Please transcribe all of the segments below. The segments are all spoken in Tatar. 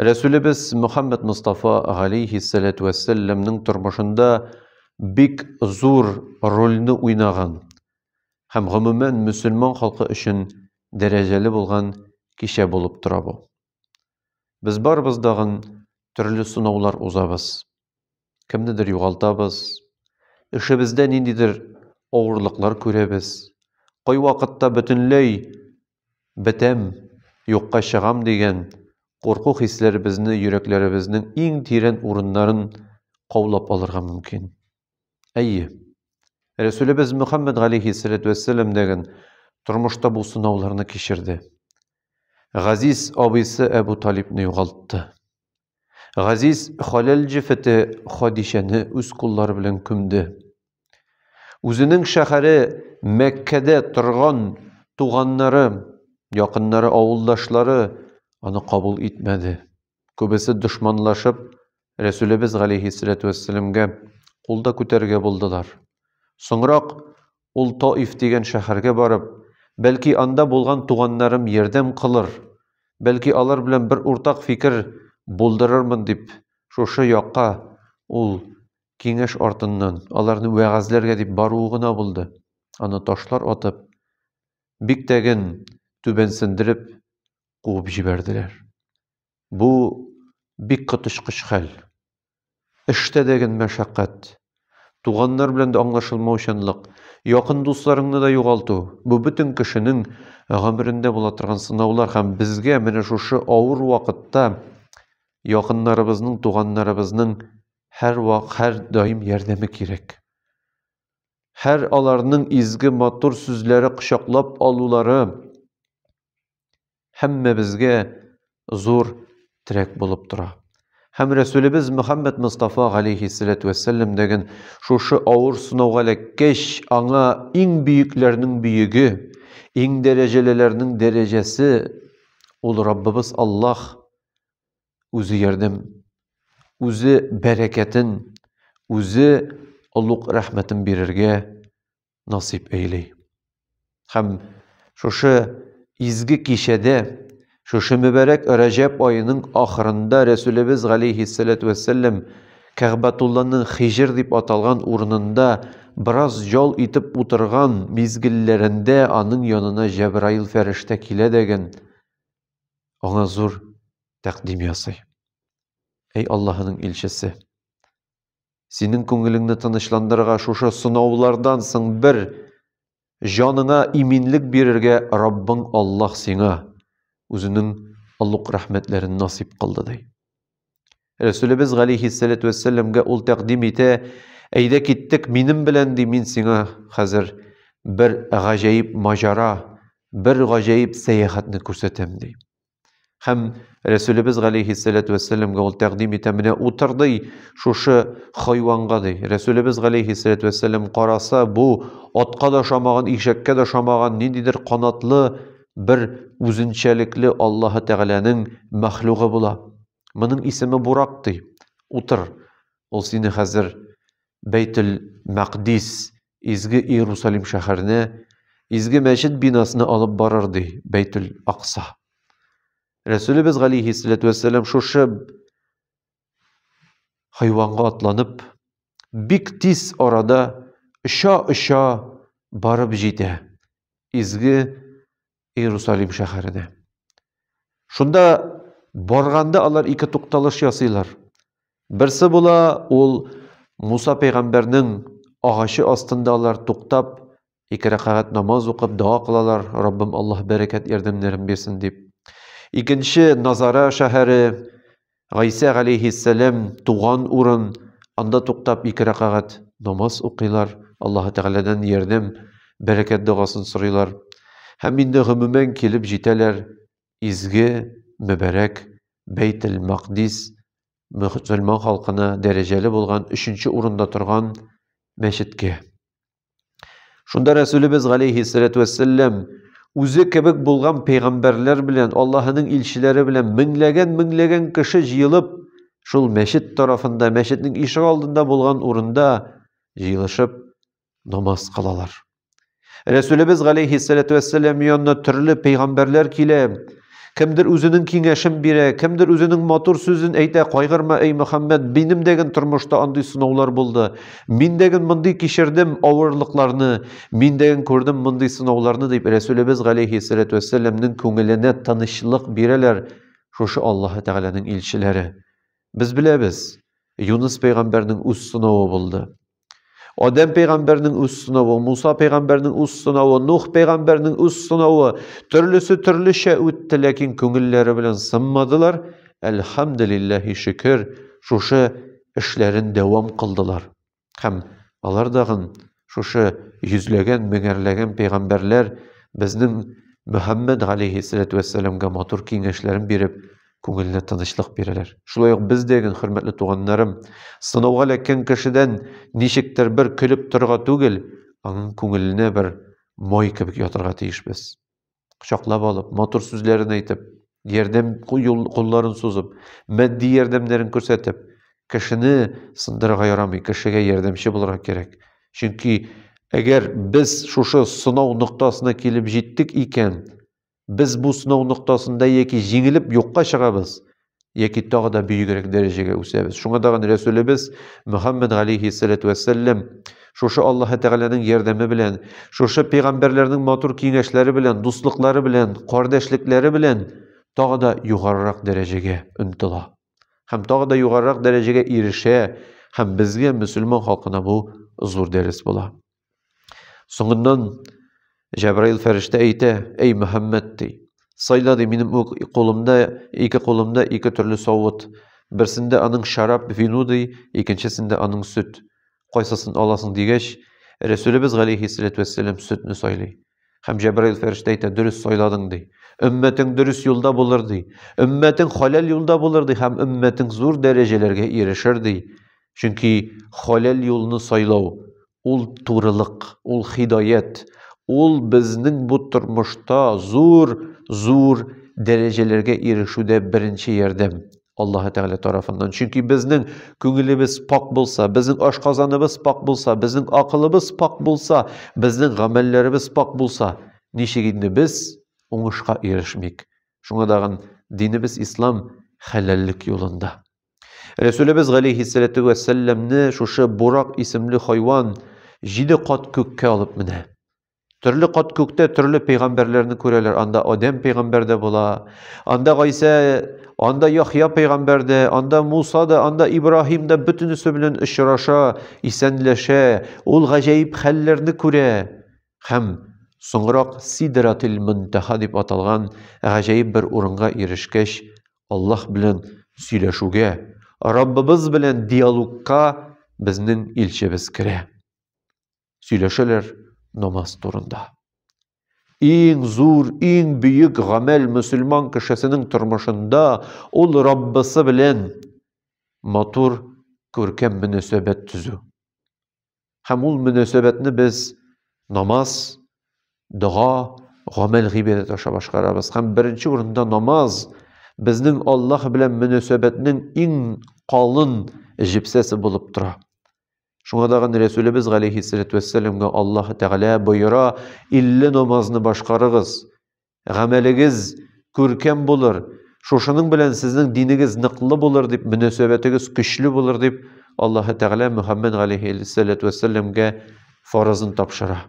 Рәсүлебез Мөхәммәд Мустафа галейхиссәләтү вәссәләмнең тормышында бик зур рольне уйнаган һәм гомумән мөселман халкы өчен дәрәҗәле булган кичә булып тора бу. Без барыбыз дагын төрле сынаулар узабыз. Кемнедер югалтабыз, эшебездә ниндидер авырлыклар күрәбез. Кайвакытта бөтенләй бетәм, юкка чыгам дигән курку хисләре безне йөрәкләребезнең иң тирән урыннарын каулап алырга мөмкин. Әйе. Рәсүлебез Мөхәммәд галәйһиссәләтү вәссәлам дәген тормышта бу сынауларны кичерде. Газиз абыйсы Әбу Талибны югалтты. Газиз Халәл җефете Хадичәне үз куллары белән күмде. Үзенең шәһәре Мәккәдә торган туганнары, якыннары, авылдашлары аны кабул итмәде. Күбесе дошманлашып, Рәсүлебез галәйһиссәләтү вәссәламгә кулда күтәрергә булдылар. Соңрак Ул Таиф дигән шәһәргә барып, бәлки анда булган туганнарым ярдәм кылыр, бәлки алар белән бер уртак фикер булдырырмын дип, шушы якка ул киңәш артыннан, аларны вәгазьләргә дип баруы гына булды. Аны ташлар атып, бик тәген түбәнсендереп куып җибәрделәр. Бу бик коточкыч хәл. Эштә дә гел мәшәкать. Туганнар белән дә аңлашылмаучанлык, якын дусларыңны да югалту, бу бөтен кешенең гомерендә була торган сынаулар һәм безгә менә шушы авыр вакытта якыннарыбызның, туганнарыбызның һәрвак, һәрдаим ярдәме кирәк. Һәр аларның изге, матур сүзләре, кочаклап алулары, һәммәбезгә зур терәк булып тора. Һәм Рәсүлебез Мөхәммәд Мустафа галәйһиссәләтү вәссәлам дигән шушы авыр сынауга эләккәч, аңа иң бөекләрнең бөеге, иң дәрәҗәлеләрнең дәрәҗәсе ул Раббыбыз Аллаһ үзе ярдәм, үзе бәрәкәтен, үзе олуг рәхмәтен бирергә насыйп эйли. Һәм шушы изге кичәдә, шушы мөбәрәк Рәҗәб аеның ахырында Рәсүлебез галейһиссәләтү вәссәләм Кәгъбәтулланың Хижр дип аталган урынында бераз ял итеп утырган мизгелләрендә аның янына Җәбраил фәрештә килә дәген, аңа зур тәкъдим ясый. Әй Аллаһының илчесе! Синең күңелеңне тынычландырырга шушы сынаулардан соң бер җаныңа иминлек бирергә Раббың Аллаһ сиңа үзенең олуг рәхмәтләрен насип кылды ди. Рәсүлебез галейһиссәләтү вәссәламгә ул тәкъдим итә, әйдә киттек минем белән ди, мин сиңа хәзер бер гаҗәеп маҗара, бер гаҗәеп сәяхәтне күрсәтәм ди. Һәм Рәсүлебез галәйһиссәләтү вәссәламга ул тәкъдим итә, менә утыр ди, шушы хайванга ди. Рәсүлебез галәйһиссәләтү вәссәлам караса, бу атка да ошамаган, ишәккә дә ошамаган, ниндидер канатлы бер үзенчәлекле Аллаһы Тәгаләнең мәхлугы була. Моның исеме Бурак ди. Утыр. Ул сине хәзер Бәйтел Мәкъдис Изге Иерусалим шәһәренә изге мәчет бинасына алып барыр ди Бәйтүл Акса. Рәсүлебез галейһиссәләтү вәссәлам шушы хайванга атланып, бик тиз арада оча-оча барып җитә. Изге Иерусалим шәһәренә. Шунда барганда алар ике тукталыш ясыйлар. Берсе була, ул Муса пәйгамбәрнең агачы астында алар туктап, ике рәкәгать намаз укып дога кылалар, Раббым Аллаһ бәрәкәт ярдәмнәрен бирсен дип. Икенче Назара шәһәре Гайсә галәйһиссәләм туган урын, анда туктап ике рәкагать намаз укыйлар, Аллаһы Тәгаләдән ярдәм, бәрәкәт догасын сорыйлар. Һәм инде гомумән килеп җитәләр изге, мөбарәк Бәйтел-Макдис, мөселман халкына дәрәҗәле булган өченче урында торган мәчеткә. Шунда Рәсүлебез галәйһиссәләтү вәссәләм үзе кебек булган пәйгамбәрләр белән, Аллаһының илчеләре белән меңләгән-меңләгән кеше җыелып, шул мәчет тарафында, мәчетнең ишек алдында булган урында җыелышып намаз кылалар. Рәсүлебез галәйһиссәләтү вәссәлам янына төрле пәйгамбәрләр килә, Кемдер үзенең киңәшен бирә, кемдер үзенең матур сүзен әйтә, кайгырма, эй Мөхәммәд, минем дәген тормышта андый сынаулар булды. Мин дәген мондый кичердем авырлыкларны, мин дәген күрдем мондый сынауларны, дип Рәсүлебез галәйһиссәләтү вәссәламнең күңеленә тынычлык бирәләр шушы Аллаһы Тәгаләнең илчеләре. Без беләбез, Юныс пәйгамбәрнең үз сынавы булды. Адәм пәйгамбәрнең үз сынавы, Муса пәйгамбәрнең үз сынавы, Нух пәйгамбәрнең үз сынавы, төрлесе төрлечә үтте, ләкин күңелләре белән сынмадылар. Әлхәмдулиллаһи шөкер, шушы эшләрен дәвам кылдылар. Һәм алар дагын шушы йөзләгән, меңәрләгән пәйгамбәрләр безнең Мөхәммәд алейхиссалату вәссәламга матур киңәшләрен биреп, күңелне тынычлык бирәләр. Шулай ук без дә, гел хөрмәтле туганнарым, сынауга эләккән кешедән ничектер бер көлеп торырга түгел, аның күңеленә бер май кебек ятырга тиешбез. Кочаклап алып, матур сүзләрен әйтеп, ярдәм кулларын сузып, матди ярдәмнәрен күрсәтеп, кешене сындырырга ярамый, кешегә ярдәмче булырга кирәк. Чөнки әгәр без шушы сынау ноктасына килеп җиттек икән, Без бу сынау ноктасында яки җиңелеп юкка чыгабыз, яки тагы да бөегрәк дәрәҗәгә үсәбез. Шуңа тагын Рәсүлебез Мөхәммәд галәйһиссәләтү вәссәлләм шушы Аллаһы Тәгаләнең ярдәме белән, шушы пәйгамбәрләрнең матур киңәшләре белән, дуслыклары белән, кардәшлекләре белән тагы да югарырак дәрәҗәгә омтыла. Һәм тагы да югарырак дәрәҗәгә ирешә, һәм безгә, мөселман халкына бу зур дәрес була. Соңыннан Җәбраил фәрештә әйтә, әй Мөхәммәд ди. Сайла ди минем үк кулымда, ике кулымда ике төрле савыт. Берсендә аның шарап, вино ди, икенчесендә аның сөт. Кайсысын аласың дигәч, Рәсүлебез галәйһиссәләтү вәссәлам сөтне сайлый. Хәм Җәбраил фәрештә әйтә, дөрес сайладың ди. Өммәтең дөрес юлда булыр ди. Өммәтең халәл юлда булыр ди һәм өммәтең зур дәрәҗәләргә ирешер ди. Чөнки халәл юлны сайлау ул турылык, ул хидаят, ул безнең бу тормышта зур, зур дәрәҗәләргә ирешүдә беренче ярдәм. Аллаһы Тәгалә тарафыннан. Чөнки безнең күңелебез пак булса, безнең ашказаныбыз пак булса, безнең акылыбыз пак булса, безнең гамәлләребез пак булса, ничек инде без уңышка ирешмик. Шуңа дагын динебез ислам хәләллек юлында. Рәсүлебез галәйһиссәләтү вәссәләмне шушы бурак исемле хайван җиде кат күккә алып менә. Төрле кат күктә төрле пәйгамбәрләрне күрәләр. Анда Адәм пәйгамбәр дә була, анда Гайсә, анда Яхья пәйгамбәр дә, анда Муса да, анда Ибраһим да бөтенесе белән очраша, исәнләшә, ул гаҗәеп хәлләрне күрә. Һәм соңрак Сидратил Мөнтаһа дип аталган гаҗәеп бер урынга ирешкәч, Аллаһ белән сөйләшүгә, Раббыбыз белән диалогка безнең илчебез керә. сөйләшәләр намаз турында. Иң зур, иң бөек гамәл мөселман кешесенең тормышында ул Раббысы белән матур, күркәм мөнәсәбәт төзү. Һәм ул мөнәсәбәтне без намаз, дога, гамәл гыйбадәт аша башкарабыз. Һәм беренче урында намаз безнең Аллаһ белән мөнәсәбәтнең иң калын җепсәсе булып тора. Шуңа тагын Рәсүлебез галәйһиссәләтү вәссәламга Аллаһ Тәгалә боера, илле намазны башкарыгыз. Гамәлегез күркәм булыр. Шушының белән сезнең динегез ныклы булыр дип, мөнәсәбәтегез көчле булыр дип, Аллаһ Тәгалә Мөхәммәд галәйһиссәләтү вәссәламгә фаразын тапшыра.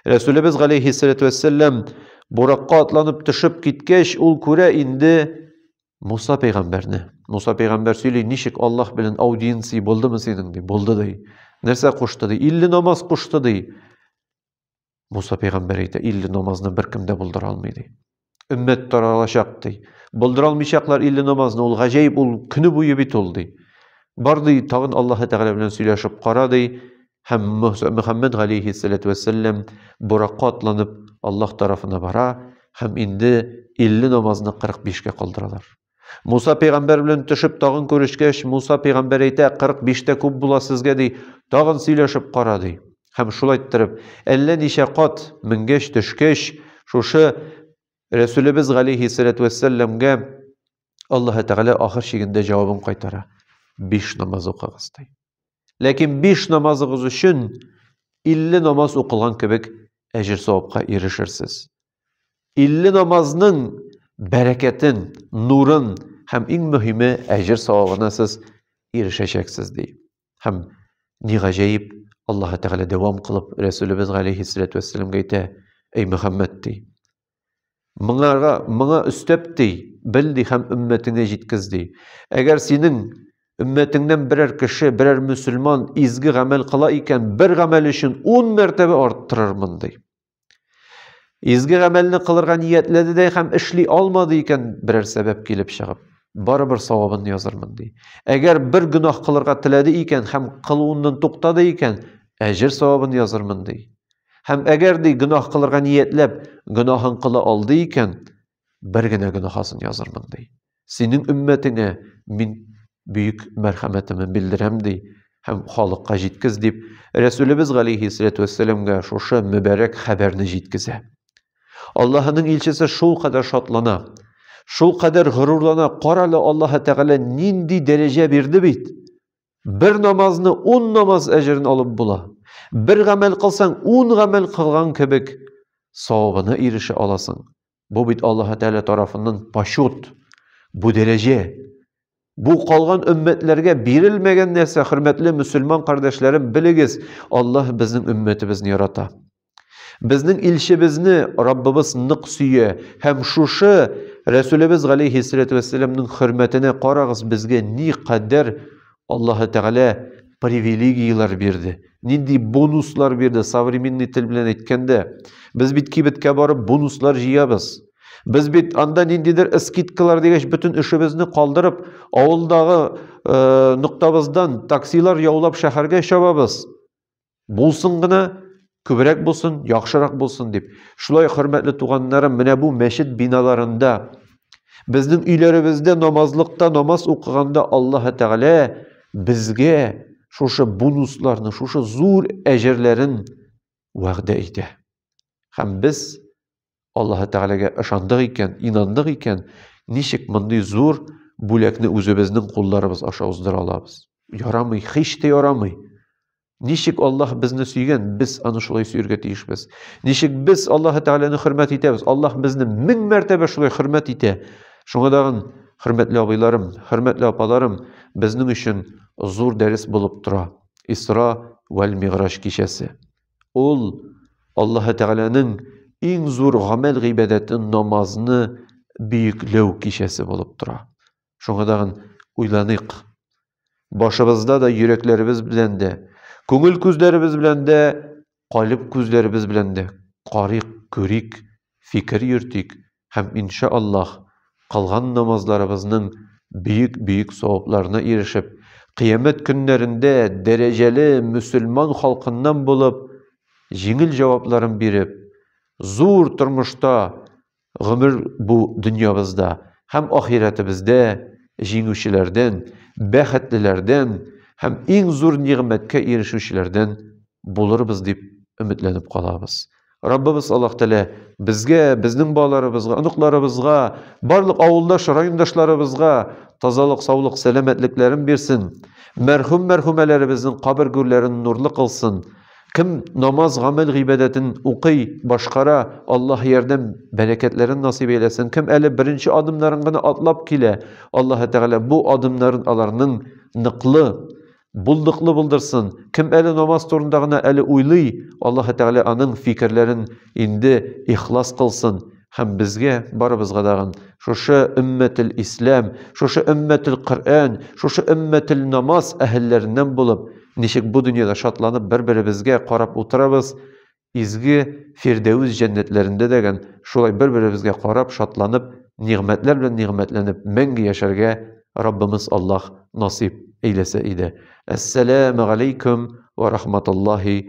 Рәсүлебез галәйһиссәләтү вәссәлам буракка атланып төшеп киткәч, ул күрә инде Муса пәйгамбәрне. Муса пәйгамбәр сөйли, ничек Аллаһ белән аудиенция булдымы синең ди, булды ди. Нәрсә кушты ди? 50 намаз кушты ди. Муса пәйгамбәр әйтә, 50 намазны беркем дә булдыра алмый ди. өммәт таралачак, ди. Булдыра алмыйчаклар илле намазны, ул гаҗәеп, ул көне буе бит ул, ди. Бар, ди, тагын Аллаһы Тәгалә белән сөйләшеп кара, ди. Һәм Мөхәммәд галәйһиссәләтү вәссәлам буракка атланып Аллаһ тарафына бара һәм инде илле намазны 45 кә калдыралар. Муса пәйгамбәр белән төшеп тагын күрешкәч, Муса пәйгамбәр әйтә, 45 тә күп була сезгә ди, тагын сөйләшеп кара ди. Һәм шулай иттереп, әллә ничә кат менгәч, төшкәч, шушы Рәсүлебез галейһи салату вәссәламгә Аллаһы Тәгалә ахыр чигендә җавабын кайтара. Биш намаз укыгыз ди. Ләкин биш намазыгыз өчен 50 намаз укылган кебек әҗер савапка ирешерсез. 50 намазның бәрәкәтен, нурын һәм иң мөһиме әҗер савабына сез ирешәчәксез ди. Һәм ни гаҗәеп, Аллаһ Тәгалә дәвам кылып Рәсүлебез галәйһиссалату вассаламга әйтә: "Эй Мөхәммәд" ди. Моңарга, моңа өстәп ди, бел ди һәм өммәтеңә җиткез ди. Әгәр синең өммәтеңнән берәр кеше, берәр мөселман изге гамәл кыла икән, бер гамәл өчен 10 мәртәбә арттырырмын ди. Изге гамәлне кылырга ниятләде дә һәм эшли алмады икән, берәр сәбәп килеп чыгып, барыбер савабын язырмын ди. Әгәр бер гөнаһ кылырга теләде икән һәм кылуыннан туктады икән, әҗер савабын язырмын ди. Һәм әгәр ди гөнаһ кылырга ниятләп, гөнаһын кыла алды икән, бер генә гөнаһасын язырмын ди. Синең өммәтеңә мин бөек мәрхәмәтемне белдерәм ди һәм халыкка җиткез дип Рәсүлебез галейһиссәләтү вәссәламгә шушы мөбәрәк хәбәрне җиткезә. Аллаһының илчесе шул кадәр шатлана, шул кадәр горурлана, карале Аллаһы Тәгалә нинди дәрәҗә бирде бит. Бер намазны ун намаз әҗерен алып була. Бер гамәл кылсаң, ун гамәл кылган кебек савабына ирешә аласың. Бу бит Аллаһ Тәгалә тарафыннан пашут. Бу дәрәҗә. Бу калган өммәтләргә бирелмәгән нәрсә, хөрмәтле мусульман кардәшләрем, белегез, Аллаһ безнең өммәтебезне ярата. Безнең илчебезне Раббыбыз нык сөя һәм шушы Рәсүлебез галәйһиссәләтү вәссәламның хөрмәтенә карагыз, безгә ни кадәр Аллаһы Тәгалә привилегияләр бирде, нинди бонуслар бирде, современный тел белән әйткәндә. Без бит кибеткә барып бонуслар җыябыз. Без бит анда ниндидер скидкалар дигәч, бөтен эшебезне калдырып, авылдагы э, ноктабыздан таксилар яулап шәһәргә чабабыз. Булсын гына, күбрәк булсын, яхшырак булсын дип. Шулай хөрмәтле туганнарым, менә бу мәчет биналарында безнең өйләребездә намазлыкта намаз укыганда Аллаһ Тәгалә безгә шушы бонусларны, шушы зур әҗерләрен вәгъдә итә. Һәм без Аллаһы Тәгаләгә ышандык икән, инандык икән, ничек мондый зур бүләкне үзебезнең кулларыбыз аша уздыра алабыз? Ярамый, һич тә ярамый. Ничек Аллаһ безне сөйгән, без аны шулай сөергә тиешбез. Ничек без Аллаһы Тәгаләне хөрмәт итәбез? Аллаһ безне мең мәртәбә шулай хөрмәт итә. Шуңа тагын, хөрмәтле абыйларым, хөрмәтле апаларым, безнең өчен зур дәрес булып тора. Исра вәл Мигъраҗ кичәсе. Ул Аллаһы Тәгаләнең иң зур гамәл гыйбадәте намазны бөекләү кичәсе булып тора. Шуңа тагын уйланыйк. Башыбызда да, йөрәкләребез белән дә, күңел күзләребез белән дә, калеб күзләребез белән дә карыйк, күрик, фикер йөртик һәм, инша Аллаһ, кылган намазларыбызның бөек-бөек савапларына ирешеп, кыямәт көннәрендә дәрәҗәле мөселман халкыннан булып, җиңел җавапларын биреп, зур тормышта гомер бу дөньябызда һәм ахирәтебездә җиңүчеләрдән, бәхетлеләрдән һәм иң зур нигъмәткә ирешүчеләрдән булырбыз дип өметләнеп калабыз. Раббыбыз Аллаһ Тәгалә безгә, безнең балаларыбызга, оныкларыбызга, барлык авылдаш, райондашларыбызга тазалык, саулык, сәламәтлекләрен бирсен. Мәрхүм мәрхүмәләребезнең кабер гүрләрен нурлы кылсын. Кем намаз, гамәл, гыйбадәтен укый, башкара, Аллаһ ярдәм, бәрәкәтләрен насыйп әйләсен. Кем әле беренче адымнарын гына атлап килә, Аллаһ Тәгалә бу адымнарын аларның ныклы, Булдыклы булдырсын. Кем әле намаз турында гына әле уйлый, Аллаһы Тәгалә аның фикерләрен инде ихлас кылсын һәм безгә барыбызга дагын шушы өммәтел ислам, шушы өммәтел Коръән, шушы өммәтел намаз әһелләреннән булып, ничек бу дөньяда шатланып бер-беребезгә карап утырабыз, Изге Фирдәвес җәннәтләрендә дә гән шулай бер-беребезгә карап, шатланып, нигъмәтләр белән нигъмәтләнеп мәңге яшәргә Раббымыз Аллаһ насыйп әйләсә иде. Әссәләмәгаләйкүм вә рахматуллаһи вә.